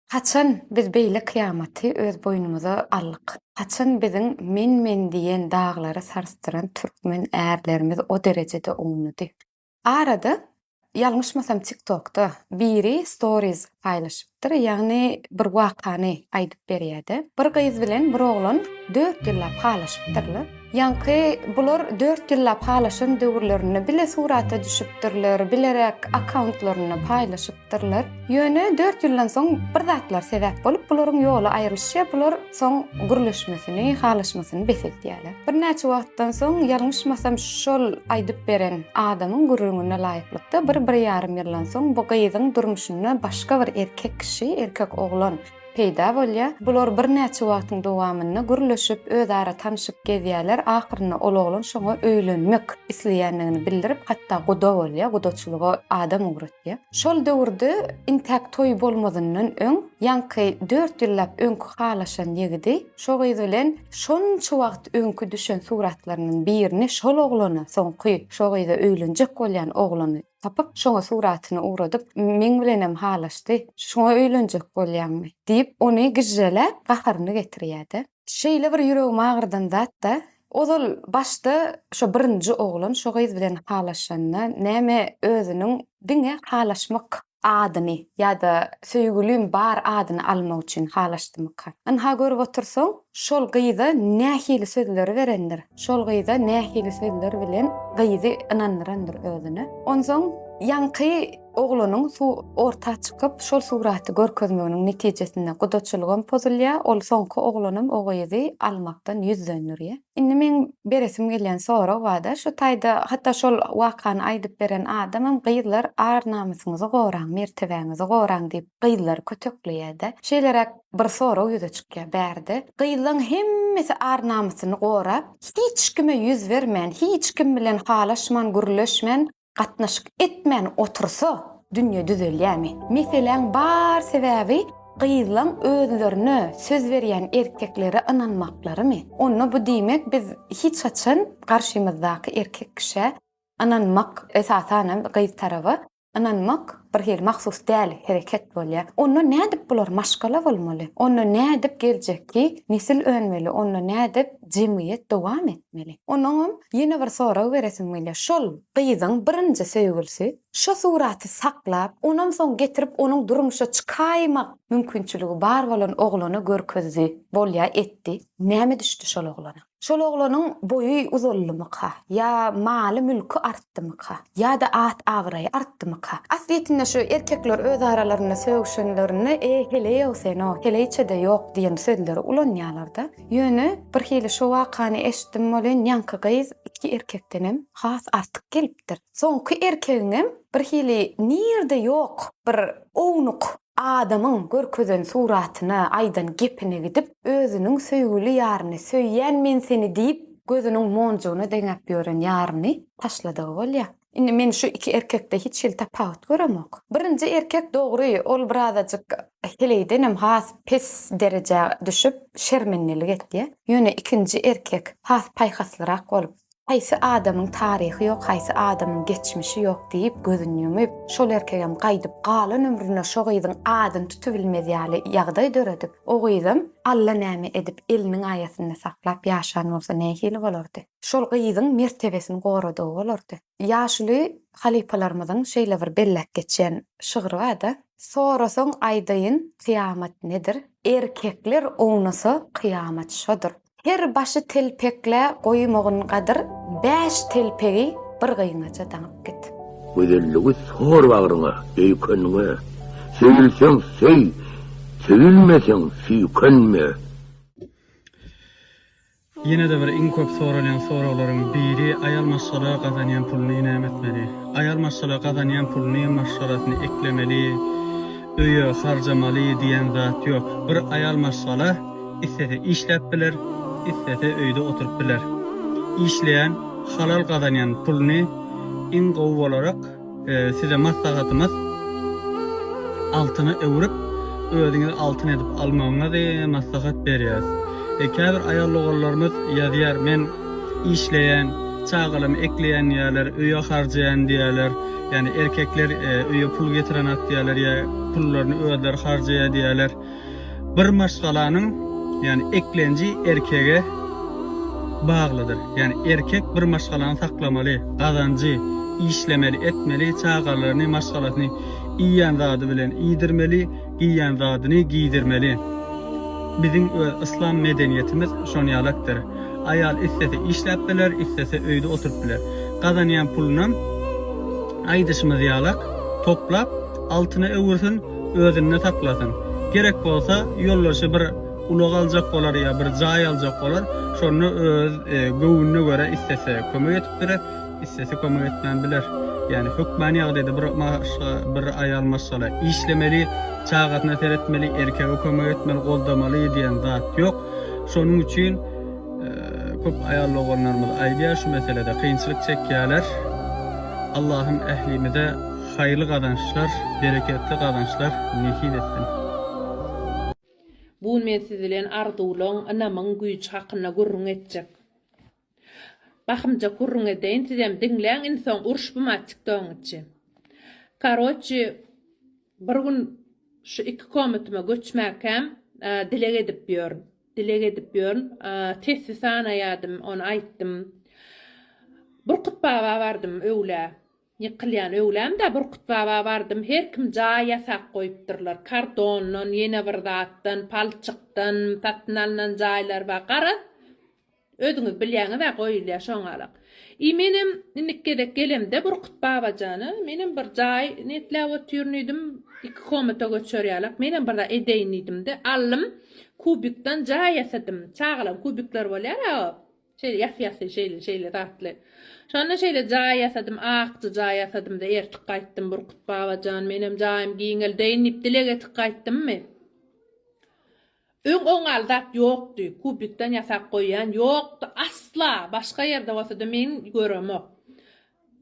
Haçan biz beýle kyýamaty öz boýnumyza aldyk? Haçan biziň men-men diýen daglary sarsdyran türkmen ärlerimiz o derejede ownady? Arada, ýalňyşmasam TikTokda biri stories paýlaşypdyr, ýagny bir wakany aýdyp berýärdi. Bir gyz bilen bir oglan dört ýyllap halaşypdyrlar. Ýaňky bular dört ýyllap halaşan döwürlerinde bile surata düşüpdirler, bileräk akkauntlarynda paýlaşyp. aýdypdyrlar. Ýöne dört ýyldan soň bir zatlar sebäp bolup, bularyň ýoly aýrylyşýar, bular soň gürleşmesini, halaşmasyny bes edýärler. Birnäçe wagtdan soň, ýalňyşmasam, şol aýdyp beren adamyň gürrüňine laýyklykda, bir-bir ýarym ýyldan soň bu gyzyň durmuşynda başga bir erkek kişi, erkek oglan peýda bolýar. Bular birnäçe wagtyň dowamynda gürleşip, özara tanşyp gezýärler, ahyrynda ol oglan şoňa öýlenmek isleýändigini bildirip, hatda guda bolýar, gudaçylyga adam ugratýar. Şol döwürde intäk toýy bolmazyndan öň ýaňky dört ýyllap öňki halaşan ýigidi şo gyz bilen şonça wagt öňki düşen suratlarynyň birini şol oglana soňky şo gyza öýlenjek bolýan oglany tapyp şoňa suratyny ugradyp meň bilenem halaşdy şoňa öýlenjek bolýaňmy diýip ony gijjeläp gaharyny getirýärdi. Şeýle bir ýüregimi agyrdan zat-da, ozal başda şo birinji oglan şo gyz bilen halaşanda näme özüniň diňe halaşmak adyny ýa-da söýgülim bar adyny almak üçin halaşdymyka? Ynha görüp otursaň, şol gyza nähili sözleri berendir, şol gyza nähili sözler bilen gyzy ynandyrandyr özüne. Onsoň ýaňky. Oglunyň suw orta çykyp, şol suraty görkezmeginiň netijesinde gudaçylygam pozulýar, ol soňky oglanam o gyzy almakdan ýüz dönderýär. Indi meň beresim gelýän sorag bar-da, şu taýda hatda şol wakany aýdyp beren adamam gyzlar ar-namysyňyzy goraň, mertebäňizi goraň diýip gyzlary kötekleýär-dä. Şeýleräk bir sorag ýüze çykýar bärde. Gyzlaň hemmesi ar-namysyny gorap, hiç kime ýüz bermän, hiç kim bilen halaşman, gürleşmän gatnaşyk etmän otursa dünýe düzelýämi? Meseläň bar sebäbi gyzlaň özlerine söz berýän erkeklere ynanmaklarymy? Onda bu diýmek biz hiç haçan garşymyzdaky erkek kişä ynanmak esasanam gyz taraba ynanmak bir hili mahsus däl hereket bolýar. Onda nädip bular maşgala bolmaly? Onda nädip geljekki nesil önmeli? Onda nädip jemgyýet dowam etmeli. Onuňam ýene bir sorag beresim gelýär. Şol gyzyň birinji söýgülisi şo suraty saklap, onam soň getirip onuň durmuşa çykaýmak mümkinçiligi bar bolan oglana görkezdi, bolýa etdi. Näme düşdi şol oglana? Şol oglanyň boýy uzaldymyka? Ýa maly-mülki artdymyka? Ýa-da at-abraýy artdymyka? Aslyýetinde şu erkekler öz aralarynda sögüşenlerinde, E, heleý-ow sen-ow, heleýçe-de ýok diýen sözleri ulanýarlar-da. Ýöne birhili şo wakany eşitdim welin ýaňky gyz iki erkekdenem has artyk gelipdir. Soňky erkegiňem birhili nirde ýok bir ownuk adamyň görkezen suratyna, aýdan gepine gidip özüniň söýgüli ýaryny, söýýän men seni diýip gözüniň monjugyna deňäp ýören ýaryny taşladygy bolýar. Indi men şu iki erkekde hiç hili tapawut göremok. Birinji erkek dogry ol birazajyk heleýdenem has pes derejä düşüp şermendelik etýä. Ýöne ikinji erkek has paýhaslyrak bolup, haýsy adamyň taryhy ýok, haýsy adamyň geçmişi ýok diýip gözüni ýumyp, şol erkegem gaýdyp galan ömrüne şo gyzyň adyny tutubilmez ýaly ýagdaý döredip, o gyzam allanäme edip eliniň aýasynda saklap ýaşan bolsa nähili bolardy. Şol gyzyň mertebesini goradygy bolardy. Ýaşuly halypalarymyzyň şeýle bir belläp geçýän şygry bar-da, Sorasaň aýdaýyn, kyýamat nedir? Erkekler ownasa, kyýamat şodur. Her başy telpekle goýmagyn gadyr, bäş telpegi bir gyňaja daňyp git. Gözelligi sor bagryňa, öýkenme, söýülseň söý, söýülmeseň süýkenme. Ýene-de bir iň köp soralýan soraglaryň biri aýal maşgala gazanýan puluny näme etmeli? Aýal maşgala gazanýan puluny maşgalasyny eklemeli, öýe harjamaly diýen zat ýok. Bir aýal maşgala islese işläp biler, islese öýde oturyp biler. Işleýän, halal gazanýan puluny iň gowy bolarak, Size maslahatymyz altyna öwrüp özüňizi altyn edip almagyňyzy maslahat berýäs. Käbir aýal doganlarymyz ýazýar men işleýän, çagalamy ekleýän diýýärler, öýe harjaýan diýýärler, ýagny erkekler öýe pul getirenok diýýärler ýa pullaryny özleri harjaýar diýýärler. Bir maşgalanyň, ýagny eklenji erkege baglydyr. Ýagny erkek bir maşgalany saklamaly, gazanjy, işlemeli, etmeli, çagalaryny, maşgalasyny iýýän zady bilen iýdirmeli, giýýän zadyny giýdirmeli. Biziň öz yslam medeniýetimiz şon ýalakdyr. Aýal islese işläp biler, islese öýde oturyp biler. Gazanýan pulunam aýdyşymyz ýalak toplap, altyna öwürsin, özünde saklasyn. Gerek bolsa, ýoldaşy bir ulag aljak bolar ýa bir jaý aljak bolar, şonda öz göwnüne görä istese kömek edip biler, istese kömek etmän biler. Ýagny hökmany ýagdaýda bir maşga, bir aýal maşgala işlemeli, çagasyna seretmeli, erkege kömek etmeli, goldamaly diýen zat ýok. Şonuň üçin köp aýal doganlarymyz aýdýar şu meselede kynçylyk çekýärler. Allahym ählimize Haýyrly gazançlar, bereketli gazançlar nesip etsin. Bu gün men siz bilen arzuwlaň, ynamyň güýji hakynda gürrüň etjek. Bahymjak gürrüň edeýin, sizem diňläň, indi soň uruşbym-a tiktogyň içi. Karoçi, bir gün şu iki komatyma göçmäkäm, dileg edip ýörün. Dileg edip ýörün. Tesbi sanaýadym, ony aýtdym. Burkut baba bardym öwlä. Ýykylýan öwlämdä Burkutbaba bardym, her kim jaý ýasap goýupdyrlar. Kardondan, ýene bir zatdan, palçykdan satyn alnan jaýlar bar. Garaz, özüňiz bilýäňiz-ä, goýulýar şoňalak. I menem indiki gezek gelemde Burkutbaba jana, menem bir jaý niýetläp otyryn diýdim, iki komata göçer ýalak, menem bir zat edeýin diýdim-de, aldym, kubikdan jaý ýasadym. Çagalar kubikleri bolýar-a, Şeýle ýasy-ýasy şeýle-şeýle datly. Şonda şeýle jaý ýasadym, akja jaý ýasadym-da ertik gaýtdym, Burkut baba jan, menem jaýym giňeldeýin diýip dileg etip gaýtdymmy? Öň oňňaly zat ýokdy, kubikden ýasap goýýan ýokdy, asla, başga ýerde bolsa-da men göremok.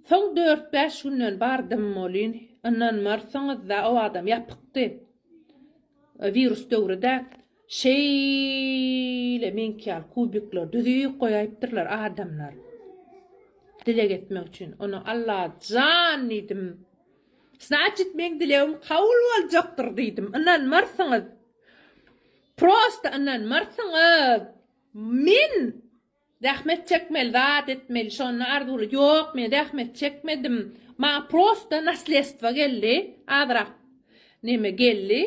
Soň dört-bäş günden bardym welin, ynanmarsyňyz-da, o wagtam ýapykdy, wirus döwri-dä, Şeýle meňki ýaly kubikler düzüp goýaýypdyrlar adamlar. Dileg etmek üçin. Ony Alla jan diýdim. Znaçit meň dilegim kabul boljakdyr diýdim. Ynanmarsyňyz. Prosta ynanmarsyňyz. Men Zähmet çekmeli zat etmeli şonda arzuwly ýok men zähmet çekmedim maňa prosta naslestvo geldi azrak neme geldi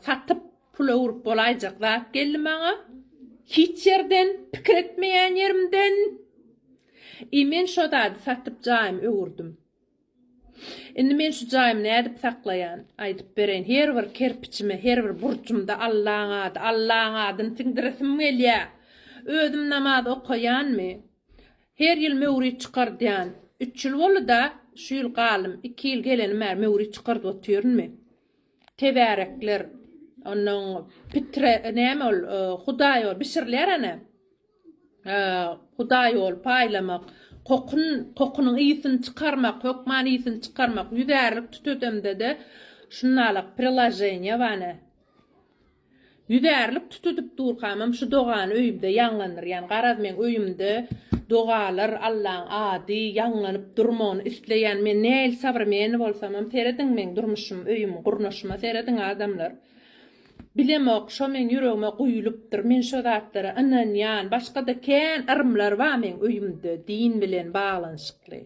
satyp pula urup bolaýjak zat geldi maňa hiç ýerden pikir etmeýän ýerimden i men şo zady satyp jaýymy öwürdim. Indi men şu jaýymy nädip saklaýan? Aýdyp bereýin. Her bir kerpiçime, her bir burjumda Allaň ady, Allaň adyny siňdiresim gelýä. Özüm namaz okaýanmy? Her ýyl möwrit çykardýan. Üç ýyl boldy-da, şu ýyl galym. Iki ýyl gelenim bäri möwrit çykardyp otyrynmy? Tebärekler, onnoň pitre, näme ol, hudaý ol, bişirilýär ana. Hudaý ol, paýlamak. Kokun, kokunyň ysyn çykarmak, hökman ysyn çykarmak. Ýüzärlik tütedemde-de şunalak priloženiýa bane. Ýüzärlik tütedip durkamam şu dogany öýümde ýaňlandyrýan. Garaz meň öýümde dogalar, Allaň ady ýaňlanyp durmagyny isleýän. Men nähili sabrmeni bolsamam, serediň meň durmuşym, öýüm, gurnaşyma serediň adamlar. Bilemok, şo meň ýüregime guýulypdyr, men şo zatlara ynanýan, başga-da kän yrymlar bar meň öýümde din bilen baglanyşykly.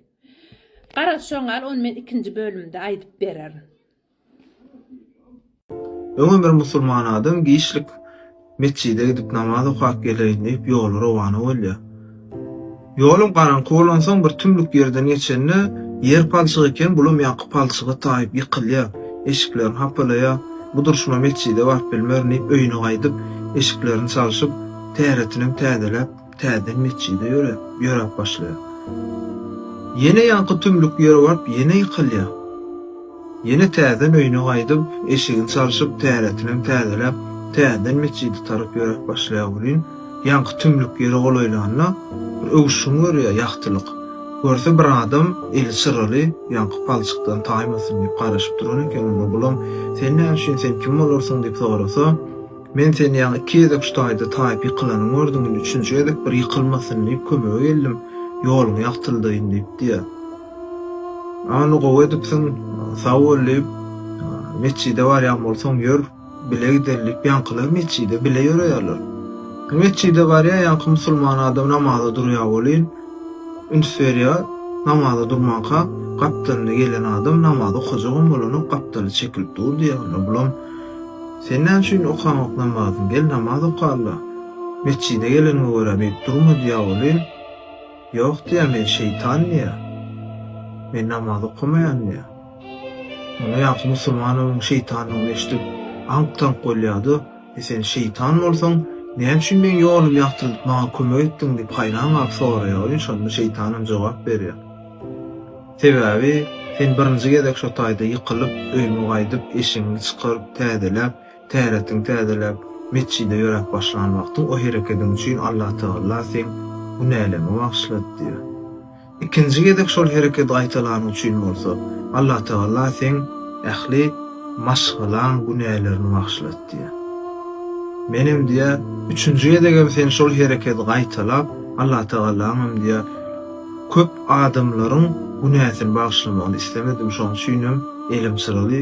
Garaz şoň al ony men ikinji bölümde aýdyp bererin. Öňem bir musulman adam giçlik metjide gidip namaz okap geleýin diýip ýola rowana bolýar. Ýolum garaňky bolansoň bir tümlük ýerden geçende, ýer palçyk eken, bulam ýaňky palçyga taýyp ýykylýar, eşiklerini hapalaýar, bu durşuma metjide baryp bilmerin diýip öýüne gaýdyp, eşiklerini çalşyp, täretinem täzeläp, täzeden metjide ýöräp, ýöräp başlaýar. Ýene ýaňky tümlük ýere baryp ýene ýykylýar. Ýene täzeden öýüne gaýdyp, eşigini çalşyp, täretinem täzeläp, täzeden metjide tarap ýöräp başlaýar welin, ýaňky tümlük ýere golaýlanda, bir öwüşgin görýär, ýagtylyk. Görse, bir adam, eli çyraly, ýaňky palçykdan taýmasyn diýip garaşyp duran eken, onda bulam, Sen näme üçin, sen kim bolarsyň? diýip sorasa, Men seni ýaňy iki gezek şu taýda taýyp ýykylanyňy gördüm, indi üçünji gezek bir ýykylmasyn diýip, kömege geldim, ýoluňy ýagtyldaýyn diýip diýýär. Ony gowy edipsiň, sag bol diýip, metjide barýan bolsaň ýör, bile gideýin diýip, ýaňkylar metjide bile ýöreýärler. Metjide barýar, ýaňky musulman adam namaza durýar welin, üns berýär, namaza durmanka, gapdalynda gelen adam namaz okajagam bolanok, gapdaly çekilip dur diýýär. Onda bulam, Sen näme üçin okaňok namazyňy, gel namaz okala, metjide geleniňe görä beýdip durma diýýär welin, Ýok diýýär men şeýtan diýýär. Men namaz okamaýan diýýär. Onda ýaňky musulman onuň şeýtandygyny eşidip aňk-taňk bolýardy, e sen şeýtan bolsaň näme üçin meň ýolumy ýagtyldyp maňa kömek etdiň diýip haýran galyp soraýar welin şonda şeýtanam jogap berýär. Sebäbi sen birinji gezek şo taýda ýykylyp öýüňe gaýdyp eşigiňi çykaryp täzeläp Täretin täzeläp, metjide ýöräp başlan wagtyň o herekediň üçin Allatagalla seň günäleňi bagyşlady diýýär. Ikinji gezek şol hereket gaýtalanyň üçin bolsa, Allatagalla seň ähli maşgalaň günälerini bagyşlady diýýär. Menem diýýär, üçünji gezegem sen şol herekedi gaýtalap, Allatagallaňam diýýär, köp adamlaryň günäsini bagyşlamagyny islemedim, şoň üçinem elim çyraly,